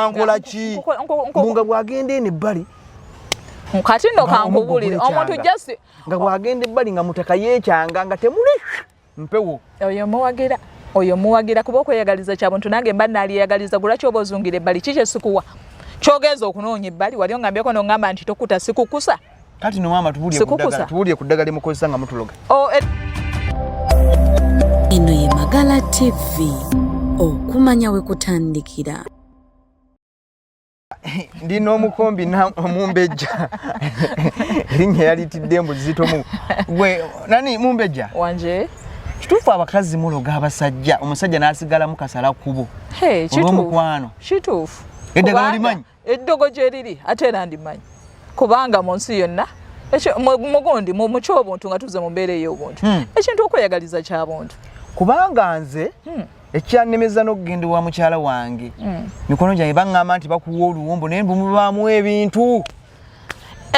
wankola ki nga bwagenda eno ebbali kati no kankubulire omuntu just nga bwagenda ebbali nga mutaka yekyanga nga temuli mpewo oyo muwagira oyo muwagira kuba okweyagaliza kyabuntu nange mba naliyagaliza gulaki oba ozungira ebbali kiki esikuwa kyogenza okunoonya ebbali wali ongambyeko nongamba nti tokuta sikukusa Kati no mama tubulye kudagala tubulye kudagala limukozesa nga mutuloga. Oh, et... Ino ye Magala TV okumanya we kutandikira. ndi n'omukombi mumbejja erinnya yalitidde mbu zitomu gwe nani mumbejja wanje kituufu abakazi muloga abasajja omusajja n'asigalamu kasala kubo olwomukwano kituufu eddagala olimanyi eddogo gye liri ate era ndimanyi kubanga mu nsi yonna mugundi mu kyobuntu nga tuze mu mbeera ey'obuntu hmm. ekintu okweyagaliza kya buntu kubanga nze hmm. ekyannemeza n'okugenda wa mukyala wange hmm. mikono gyange baŋŋamba nti bakuwa oluwombo naye mbumubaamu ebintu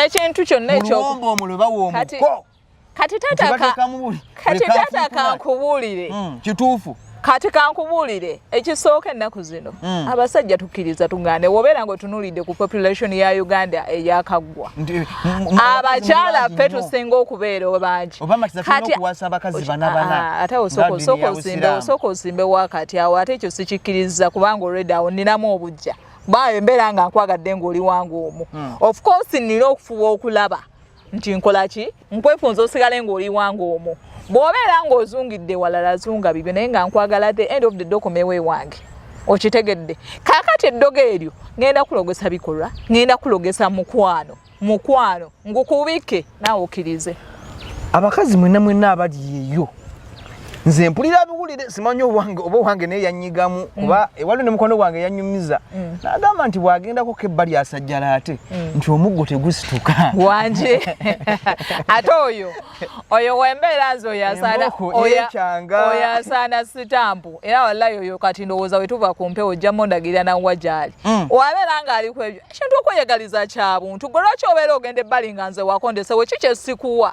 ekintu kyonna ekyobuwombo omulo bawa omuko kati tata ka kati tata ka kubulire mm, kitufu kati ka kubulire ekisooka ennaku zino mm. abasajja tukiriza tungane wobera ngo tunulide ku population ya Uganda eyakagwa abakyala fe tusinga okubeera obangi kati okuwasa abakazi bana bana ah, ate osoko soko zimbe osoko zimbe wakati awo ate ekyo sikikiriza kubanga already awo ninamu obujja bayo embera nga nkwagadde ngoli wangu omu mm. of course nilo okufuwa okulaba nti nkola ki nkwefunza osigale ng'oli wange omwo bw'obeera ng'ozungidde walala zunga bibyo naye nga nkwagala the end of the document we wange okitegedde kaakati eddogo eryo ŋenda kulogesa bikolwa ŋenda kulogesa mukwano mukwano ngukubike naawe okirize abakazi mwena mwena abali yeyo nze mpulira biwulire simanyi owange oba owange naye yanyigamu mm. kuba mm. ewaliwo ne mukwano gwange yanyumiza mm. nagamba nti bwagendako ko ebbali asajjala ate mm. nti omuggo tegusituka wanje ate oyo oyo wembeera nze oyasaanaoyo asaana sitampu era wallayi oyo kati ndowooza wetuva ku mpewo ojja mondagirira nawa gyali mm. wabeera nga aliku ebyo ekintu okweyagaliza kyabuntu gwe lwaki obeera ogenda ebbali nga nze wakondesewo ki kyesikuwa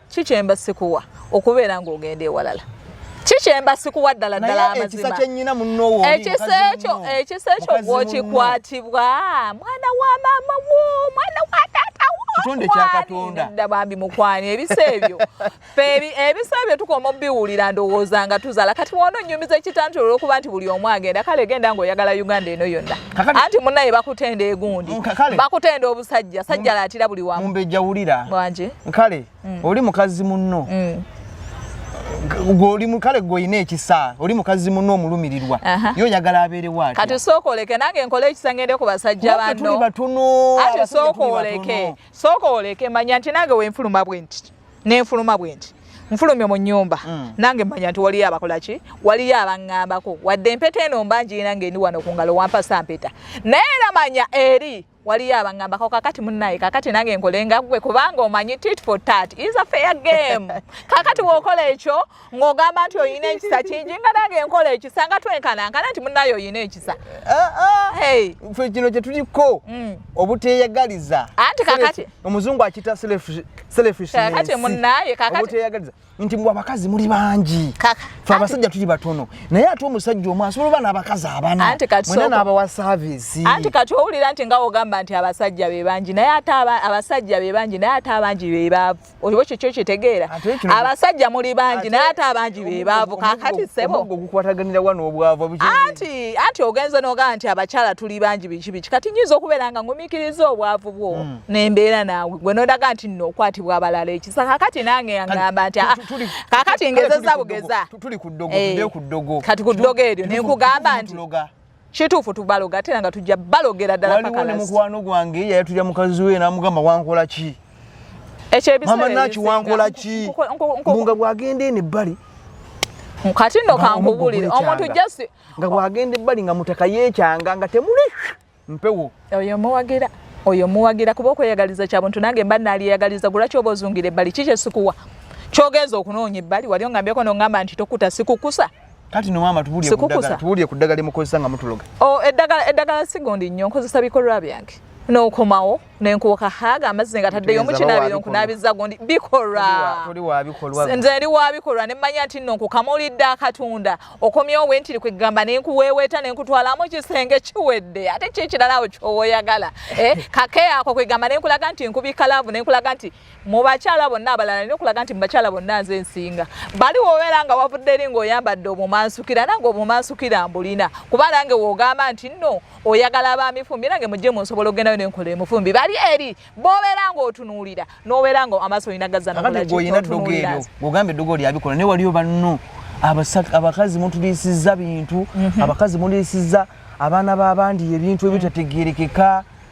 ki kyemba sikuwa okubeera ng'ogenda ewalala kikyemba sikuwa ddala ddala amazimaaekisa ekyo ekisa ekyo gwokikwatibwa mwana wa maama wo mwana wa taata wodda bambi mukwani ebisa ebyo ebisa ebyo tukoma obiwulira ndowooza nga tuzala kati wona onyumiza ekitanti olwokuba nti buli omu agenda kale genda ngaoyagala uganda eno yonna anti munaye bakutenda egundi mm, bakutenda obusajja sajja latira buli wamu mumbejja wulira wanje kale mm. oli mukazi munno mm. gwoli mukale gwolina ekisa oli mukazi munno omulumirirwa yo oyagala abeere waati kati sooka oleke nange nkole ekisa ngende ku basajja banno ati sooka oleke sooka oleke manya nti nange wenfuluma bwe nti nenfuluma bwenti nfulumye mu nyumba mm. nange manya nti waliyo abakolaki waliyo abangambako wadde empeta eno mbanjirina nga endi wano kungalo wampasa mpeta naye era manya eri waliyo abangambako kakati munaye kakati nange nkolenga gwe kubanga omanyi tit for tat is a fair game kakati wokola ekyo ng'ogamba nti olina ekisa kingi nga nange enkola ekisa nga twenkanankana nti munaye olina ekisa ah, ah. fe kino kyetuliko mm. obuteyagaliza anti kakati omuzungu akita selfishkakati munaye kakatiyagaliza nti mbu abakazi muli bangi fe abasajja tuli batono naye ate omusajja omu asobola oba n'abakazi abana mwena n'abawa saavisi anti kati owulira nti nga ogamba nti abasajja be bangi naye ate abasajja be bangi naye ate abangi be baavu oyo kiki okitegeera abasajja muli bangi naye ate abangi be baavu kakati sebo gukwataganira wano obwavu anti anti ogenze nogaa nti abakyala tuli bangi biki biki kati nyinza okubeera nga ngumikiriza obwavu bwo hmm. nembeera naawe gwe nodaga nti nno okwatibwa abalala ekisa kakati nange yangamba nti ah, kakati ngezeza bugeza tuli ku ddogo eh, kati ku ddogo eryo nenkugamba nti kituufu tubaloga ate nga tujja balogera ddala waliwo ne mukwano gwange yayatulya mukazi we n'amugamba wankola ki mama naki wankola ki nga bwagenda eno ebbali kati no kankubulire omuntu just nga bwagenda ebbali nga mutaka yekyanga nga temuli mpewo oyo muwagira oyo muwagira kuba okweyagaliza kya buntu nange mba naliyagaliza gulaki oba ozungira ebbali kikyesikuwa kyogenza okunoonya ebbali wali ongambyeko nongamba nti tokuta sikukusa kati no maama tubulye kudagala tubulye kudagala limukozesa nga mutuloga oh edagala edagala sigondi nnyo nkozesa bikolwa byange n'okomawo nenkuuka haaga amazzi nga taddeyo omukinabiro nkunabiza gundi bikolwa nze eri wa bikolwa ne mmanya nti nno nkukamulidde akatunda okomyewo we ntiri kwegamba ne nkuweeweeta ne nkutwalamu kisenge kiwedde ate kyekirala awo kyowoyagala eh, kake ako kwegamba ne nkulaga nti nkubika laavu ne nkulaga nti mu bakyala bonna abalala nina okulaga nti mu bakyala bonna nze nsinga bali wobeera nga wavudde eri ngaoyambadde obumansukira nange obumansukira mbulina kuba nange wogamba nti nno oyagala bamifumbi nange mujje mu nsobola ogendayo nenkola emufumbi bali eri bobeera ngaotunuulira nobeera nga amaaso olina gazanaogambye eddogo lyabikola naye waliyo banno abakazi mutuliisiza bintu mhm. abakazi muliisiza abaana babandi ebintu ebitategerekeka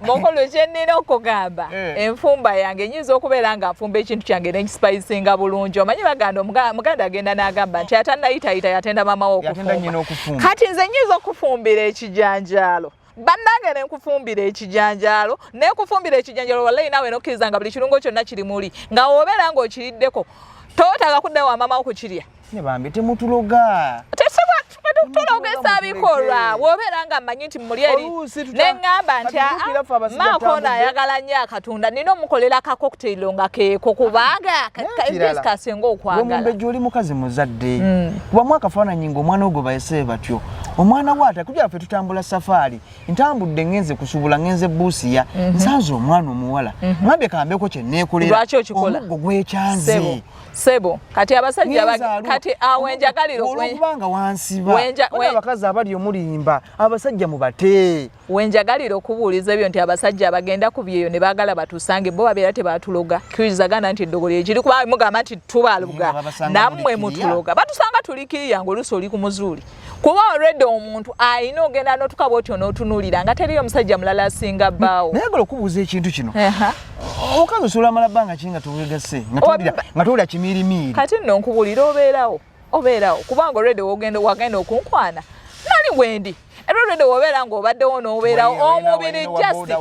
mukulu kyenina okugamba eh. enfumba yange nyinza okubeera nga nfumba ekintu kyange nenkisipayisinga bulungi omanyi baganda muganda agenda nagamba nti atanayitayita yatenda mamawe okufumba kati nze nyinza okufumbira ekijanjaalo bannange nenkufumbira ekijanjaalo nekufumbira ekijanjaalo wallayi naawe nokkiriza nga buli kirungo kyonna kiri muli nga wobeera nga okiriddeko totaaga kuddayo wamamawo kukirya ne bambi temutuloga tulogeesa bikolwa wobeera nga mmanyi nti muli eri neŋŋamba nti maakono ayagala nnyo akatunda nina omukolera kakoktailo nga keeko kubanga kasinga okwagalaomumbejja oli mukazi muzadde mm. kubamu akafaananyi ngaomwana ogwo bayese batyo omwana waata kujala ffe tutambula safaari ntambudde ngenze kusubula ngenze buusiya mhm. nsanze omwana omuwala mhm. ŋambye kambeko kyeneekolera omuggo gwekyanze sebo kati abasajja kati awenjagaliro olwokubanga wansiba abakazi abali omulimba abasajja mubate wenjagaliro okubuuliza ebyo nti abasajja abagenda ku byeyo ne baagala batusange bo babeera tebatuloga kirizagana nti eddogolo ekiri kuba mugamba nti tubaluga nammwe mutuloga batusanga tulikiriya ngaoluusi oli ku muzuuli kuba already omuntu alina ogenda notuka bwoti onotunulira nga teriyo omusajja mulala asinga bbaawo naye gola okubuuza ekintu kino omukazi osobola amala bbanga ki nga towegase nga towulira kimiirimiiri kati nno nkubulira obeerawo obeerawo kubanga already wogenda wagenda okunkwana nali wendi era already wobeera ngaobaddewo nobeerawo omubiri just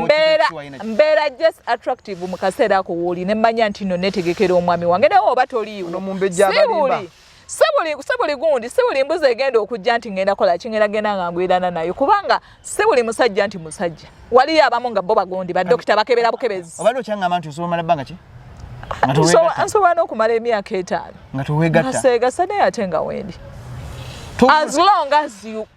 mbeera mbeera just attractive mu kaseera ako wooli nemmanya nti nno netegekera omwami wange naye oba toliiwo siwuli sebuli gundi sebuli mbuzi egenda okujja nti ngenda kola kingenda genda nga ngwirana nayo kubanga sebuli musajja nti musajja waliyo abamu nga bo bagundi badokita bakebera bukebezi obadde okyangamba nti osobola omala bbanga ki nsobola n'okumala emyaka etaano nga towegatta naseegasa naye ate nga wendi as long as you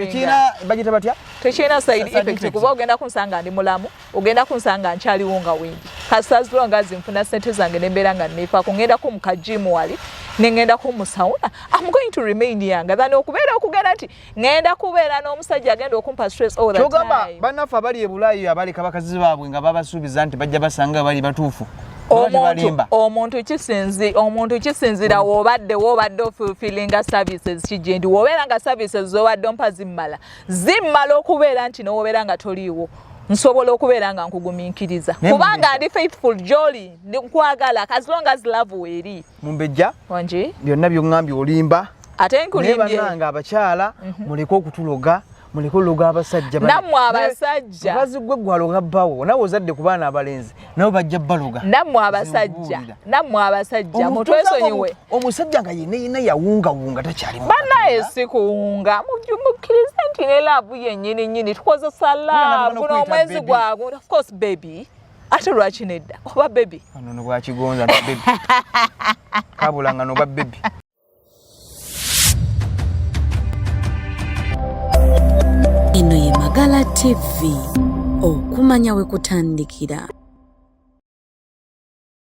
tekirina bagita batya tekirina side effect kuba ogenda kunsanga ndi mulamu ogenda kunsanga nkyaliwo nga wendi kasazula nga zinfuna sente zange nembeera nga nefa kungenda ku mukajimu wali nengenda ku musauna am going to remain yanga than okubeera okugenda nti ngenda kubeera n'omusajja agenda okumpa stress all the time kyogamba banaffe abali ebulayi abaleka bakazi baabwe nga babasuubiza nti bajja basanga bali batuufu omuntu kisinzi omuntu kisinzira wobadde wobadde ofulfillinga services kigyendi wobeera nga services zobadde ompa zimmala zimmala okubeera nti nowobeera nga toliiwo nsobola okubeera nga nkugumiikiriza kubanga ndi faithful joli nkwagala as long as love weeri mumbejja wangi byonna byoŋambye olimba ate nkulimbye naye banange abakyala mhm. muleke okutuloga mulikuluga abasajja namwe abasajja bazi gwe gwaloga bawo nawe ozadde ku baana abalenzi nabo bajja baloga namwe abasajja namwe abasajja mutwesonyiwe omusajja nga yine yine yawunga wunga takyali mu bana esikuwunga mujumukirize nti ne laavu yenyini nyini tukozesa laavu n'omwezi gwabwe of course baby ate lwaki nedda oba baby ano nobwakigonza no baby kabulanga noba baby Eno ye Magala TV, okumanya we kutandikira.